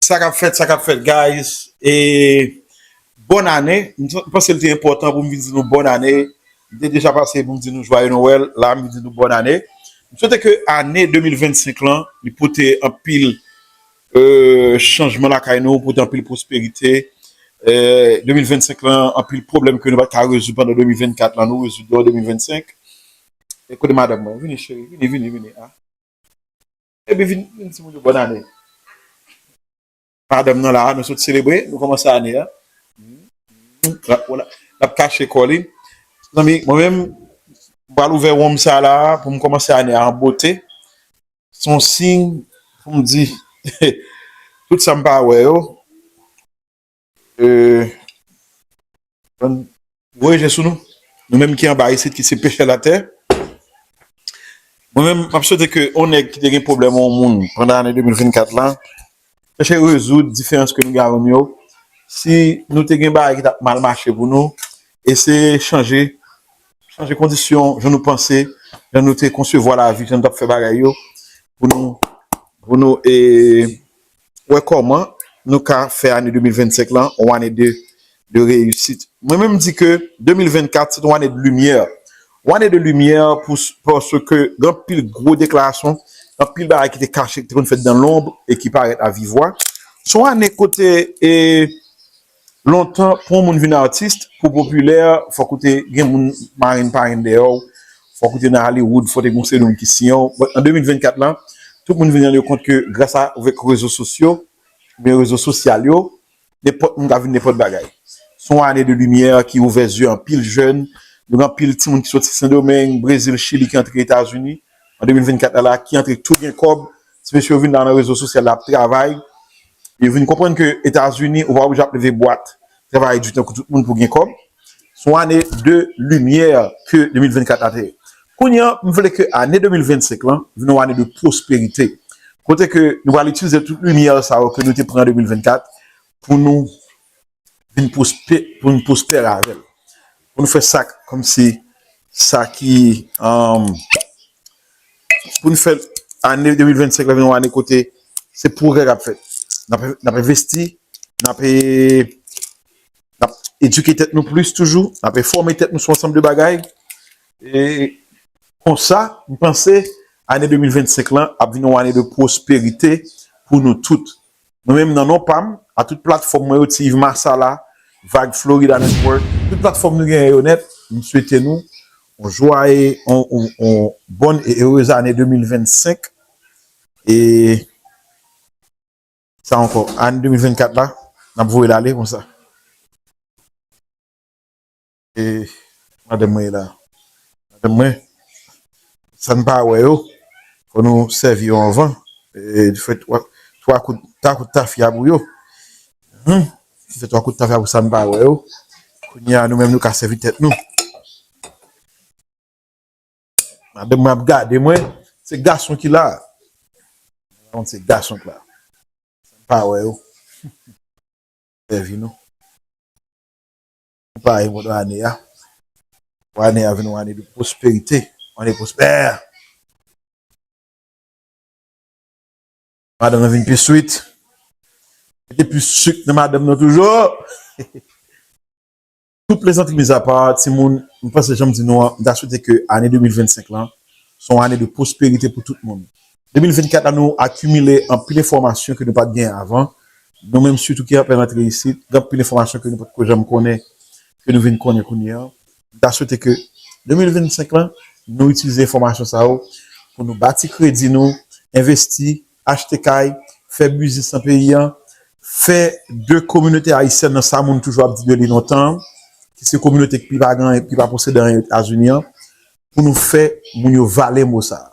Sa kap fèt sa kap fèt guys e bòn ane m panse l te enpòtan pou m vin di nou bòn ane m te deja pase pou m di nou jwaye nowèl la m vin di nou bòn ane m swete ke ane 2025 lan li pote anpil chanjman lakay nou pote anpil pwosperite 2025 lan anpil pwoblèm ke nou pat ka rezoud pandan 2024 lan nou rezoud yo an 2025 e kote madanm mwen vini cheri vini vini vini a. Epi vin di ti moun yo bòn ane. Madanm nan la a, nou sot selebre, nou kòmanse ane a. L ap kache kò li. Mezanmi, mwen menm, m pral ouvè wonm sa la a pou m kòmanse ane a an bote. Se yon siy pou m di tout sa m pa wè yo. Voye je sou nou, nou menm ki anba isit ki se pechè latè. Mwen menm, map swete ke yon nèg ki te gen pwoblèm yon moun pandan ane 2024 la, chèche rezoud diferans ke nou gen avèm yo. Si nou te gen bagay ki tap mal mache pou nou, eseye chanje, chanje kondisyon jan nou panse, jan nou te konsevwa lavi, jan nou tap fè bagay yo, pou nou, pou nou e, wè kòman nou ka fè ane 2025 lan yon ane de reyisit. Mwen menm di ke 2024 se te yon ane de limyè. Yon ane de limyè paske gen anpil gwo deklarasyon, anpil bagay ki te kache, ki te konn fèt dan lonb e ki parèt a vivwa. Se yon ane kote Lontan pou yon moun vin artist, pou w popilè, fòk ou te gen moun marenn parenn dèyè w, fòk ou te nan Hollywood, fòk te gen yon seri de moun ki siyen w. But an 2024 lan, tout moun vin rann yo kont ke gras avèk rezo sosyo, oubyen rezo sosyal yo, nenpòt moun ka vin nenpòt bagay. Se yon ane de limyè ki ouvè zye anpil jèn, gen anpil timoun ki soti Sendomeng, Brezil, Chili ki antre Etazini. an 2024 la la ki antre tou gen kòb, ti mesye yo vin la nan rezo sosyal la ap travay, yo vin konprann ke Etazini ou pa oblije ap leve bwat travay di tankou tout moun pou gen kòb, se yon ane de limyè ke 2024 la te ye. Kounye an, m vle ke ane 2025 lan vin yon ane de pwosperite, kote ke nou pral itilize tout limyè sa yo ke nou te pran an 2024 pou nou. vin pwospe pou nou pwospere avèl pou nou fè sak kòm si sa ki an pou nou fè ane 2025 la vin yon ane kote se pwogrè kap fèt nap envesti nap edike tèt nou plis toujou nap enfòme tèt nou sou ansanm de bagay e konsa m panse ane 2025 lan ap vin yon ane de pwosperite pou nou tout Mwen menm nan non pam, a tout platfòm mwen yo ti Yves Massala, Vag Florida Network, tout platfòm nou genyen yo nèt, m swete nou on jwaye on bòn e erez ane 2025 e sa ankò ane 2024 la nap voyel ale konsa. E madanm mwen ye la. Madanm mwen, sa n pa wè yo, fò nou sèvi yo anvan. E nou fè twa kout, twa kout tafya pou yo. Hum! Nou fè twa kout tafya pou sa n pa wè yo. Kounye a nou menm nou ka sèvi tèt nou. Madanm mwen ap gade mwen, se gason ki la a. Mwen rann kont se gason ki la a. Sa n pa wè yo. Sèvi nou. Ou pare pou nou ane a. Pou ane a vin yon ane de pwosperite. Yon ane pwospè. Madanm nan vin pi swit. Mete plis suk nan madanm nan toujou. Tout plezantri mizapa, timoun, mwen panse janm di nou an, mwen ta swete ke ane 2025 lan, son ane de pwosperite pou tout moun. 2024 la nou akimile anpil enfòmasyon ke nou pat gen avan, nou menm sitou ki apen rantre isit, gen anpil enfòmasyon ke nou potko janm konnen, ke nou vin konnen kounye an. M ta swete ke 2025 lan, nou itilize enfòmasyon sa yo pou nou bati kredi nou, envesti, achte kay, fè biznis nan peyi an, fè de kominote ayisyèn nan sa moun toujou ap di de li lontan an, ki se kominote ki pi pa gen anyen, ki pa posede anyen Etazini an, pou nou fè moun yo vale mo sa a.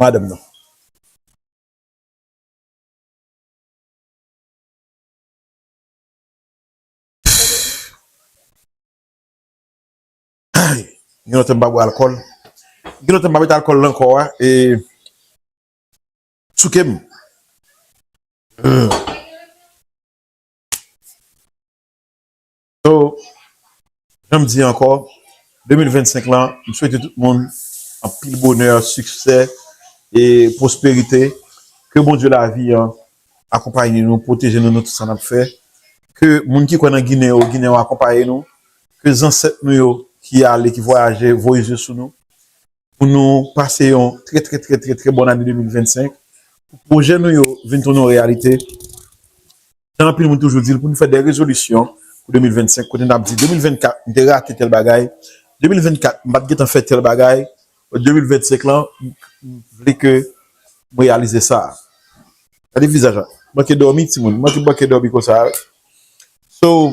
Madanm nan. Gen lontan m pa bwè alkòl. Gen lontan m pa mete alkòl nan kò a e souke m. So, jan m di ankò, 2025 lan, m swete tout moun anpil bonè, siksè e pwosperite. Ke Bondye lavi an akonpaye nou, pwoteje nou nan tout sa n ap fè. Ke moun ki kwè nan Ginen yo, Ginen yo akonpaye nou. Ke zansèt nou yo ki ale, ki vwayaje, voye zye sou nou. pou nou pase yon trè trè trè trè trè bòn ane 2025, pou pwojè nou yo vin tounen yon reyalite, jan anpil moun toujou di l, pou nou fè de rezolisyon pou 2025, kote n ap di 2024 m te rate tèl bagay, 2024 m pa t gen tan fè tèl bagay, 2025 lan m vle ke m reyalize sa. Gade vizaj la, manke dòmi timoun, manke manke dòmi konsa a. So.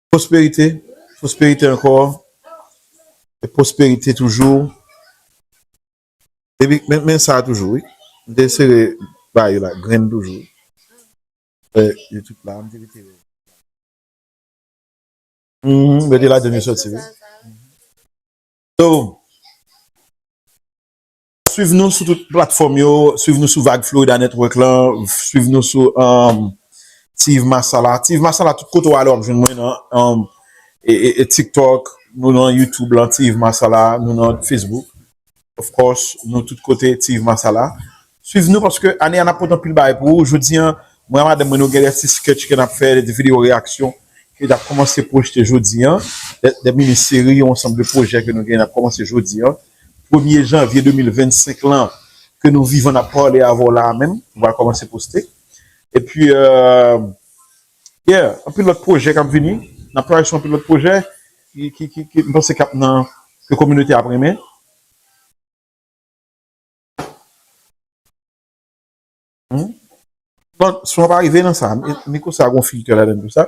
Pwosperite, pwosperite ankò, e pwosperite toujou. Epi men men sa toujou wi, m te sere ba yo la grenn toujou. Fè yo tout la, m te mete yo. Mwen mete ladann yo soti wi. So. Swiv nou sou tout platfòm yo, swiv nou sou vag Florida Network lan, swiv nou sou Tiv Masala. Tiv Masala tout kote w ale w ap jwenn mwen nan TikTok, nou nan YouTube lan Tiv Masala, nou nan Facebook. Of course, nou tout kote Tiv Masala. Swiv nou paske ane a n ap pote anpil bagay pou ou. Jodi an, mwen ak madanm mwen nou gen de ti sketch ke n ap fè, de ti videyo reyaksyon ke n ap kòmanse pwojte jodi an, de mini seri, yon ansanm de pwojè ke nou gen n ap kòmanse jodi an. premye janvye 2025 lan ke nou vivan nap pale avè w la a menm nou pral kòmanse poste epi yeah anpil lòt pwojè kap vini nap travay sou anpil lòt pwojè ki m panse kap nan ke kominote a ap renmen. Bon son an pa rive nan sa miko sa gon filtè ladan l pou sa.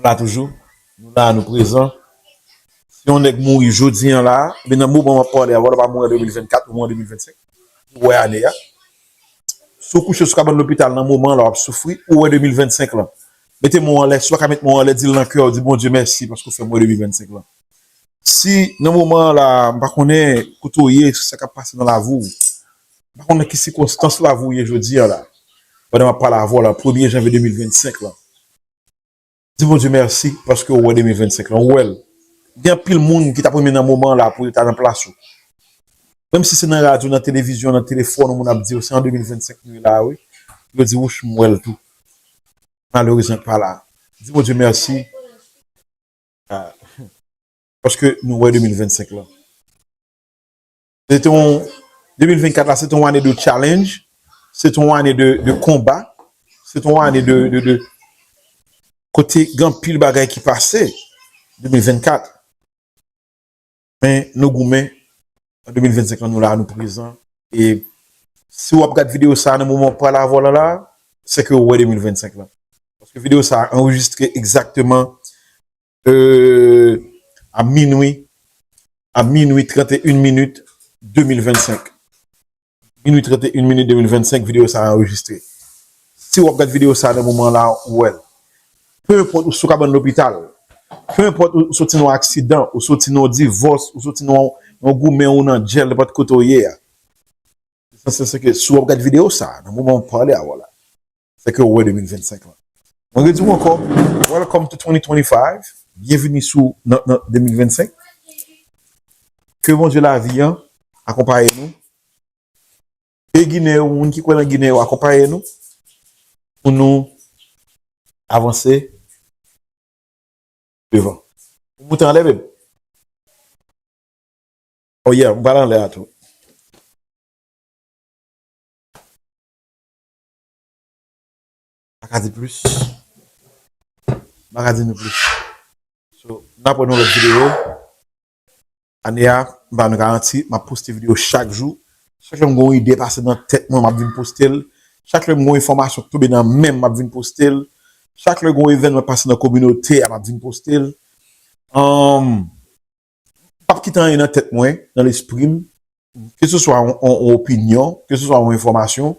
Nou la toujou, nou la nou prezan. Si yon nèg mouri jodi an la, oubyen nan moman map pale a, wè lè w pa mouri an 2024, ou mouri an 2025, ou wè ane a. Si w kouche sou kabann lopital nan moman an la wap soufri, ou wè 2025 lan. Mete men w anlè, si w pa ka met men w anlè, di l nan kè w, di Bondye mèsi paske w fè m wè 2025 lan. Si nan moman an la, m pa konnen kote w ye, sa kap pase nan lavi w, m pa konnen nan ki sikonstans lavi w ye jodi an la, pandan map pale avè w la, premye janvye 2025 lan. Di Bondye mèsi paske ou wè 2025 lan, ou wè l. Gen anpil moun ki t ap renmen nan moman an la pou yo ta nan plas ou. Menm si se nan radyo, nan televizyon, nan telefòn ou moun ap di yo se an 2025 nou ye la a wi, pou yo di wouch m wè l tou. Malerezman l pa la. Di Bondye mèsi paske nou wè 2025 lan. Se te yon, 2024 la se te yon ane de challenge, se te yon ane de konba, se te yon ane de kote gen pil bagay ki pase, 2024. Men nou goumen, an 2025 la nou la, nou prezan. E si w ap gad videyo sa nan moman w pale avè w la la, se ke ou wè 2025 la. Paske videyo sa anrejistre egzakteman A minwi A minwi 31 minit 2025 Minwi 31 minit 2025 videyo sa a anrejistre Si w ap gad videyo sa a nan moman la ou wè l Pe enpòt ou sou kabann lopital Pe enpòt ou soti nan yon aksidan ou soti nan yon divòs ou soti nan yon goumen ou nan djèl nenpòt kote ou ye a Lesansyèl se ke si w ap gad videyo sa a nan moman m ap pale avè w la Fè kè w wè 2025 lan. Mwen redi w ankò, Welcome to 2025, Byenvini sou nan 2025. Ke Bondye lavi an akonpaye nou. Ke Ginen yo, moun ki kwè nan Ginen yo akonpaye nou pou nou avanse devan. Ou moute anlè babe? Oh yeah, m pral anlè a tou. Mwen paka di plis. Mwen paka di nou plis. So, nap wè nan lòt videyo. Ane a, m ba nou garanti, m ap poste videyo chak jou. Chak lè m gen yon ide pase nan tèt mwen, m ap vin poste l. Chak lè m gen yon enfòmasyon ki tonbe nan men m, m ap vin poste l. Chak lè gen yon evènman ki pase nan kominote a, m ap vin poste l. pap kite anyen nan tèt mwen, nan lespri m, ke se swa yon opinyon, ke se swa yon enfòmasyon,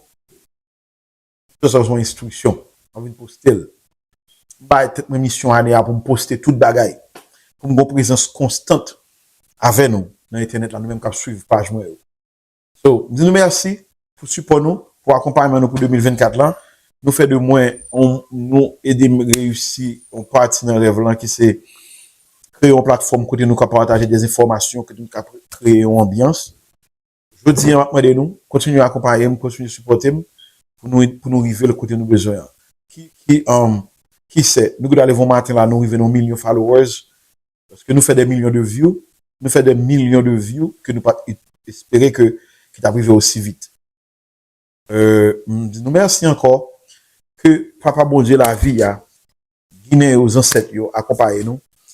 ke se swa yon enstriksyon, mwen vin poste l. M bay tèt mwen misyon ane a pou m poste tout bagay, pou m gen yon prezans konstant avè nou nan entènèt la, nou menm k ap swiv paj mwen yo. So, m di nou mèsi pou sipò nou, pou akonpayman nou pou 2024 lan. Nou fè de mwen, nou ede m reyisi yon pati nan rèv lan ki se kreye yon platfòm kote nou ka pataje de enfòmasyon, kote nou ka kreye yon anbyans. Jodi an, m ap mande nou, kontinye akonpaye m, kontinye sipòte m pou nou rive l kote nou bezwen an. Ki se, nou gen dwa leve yon maten la nou rive nan yon milyon followers, Paske nou fè dè milyon de view, nou fè dè milyon de view ke nou pat espere ke ki tap rive osi vit. M di nou mèsi ankò, ke Papa Bondye lavi a, Ginen yo, Zansèt yo akonpaye nou,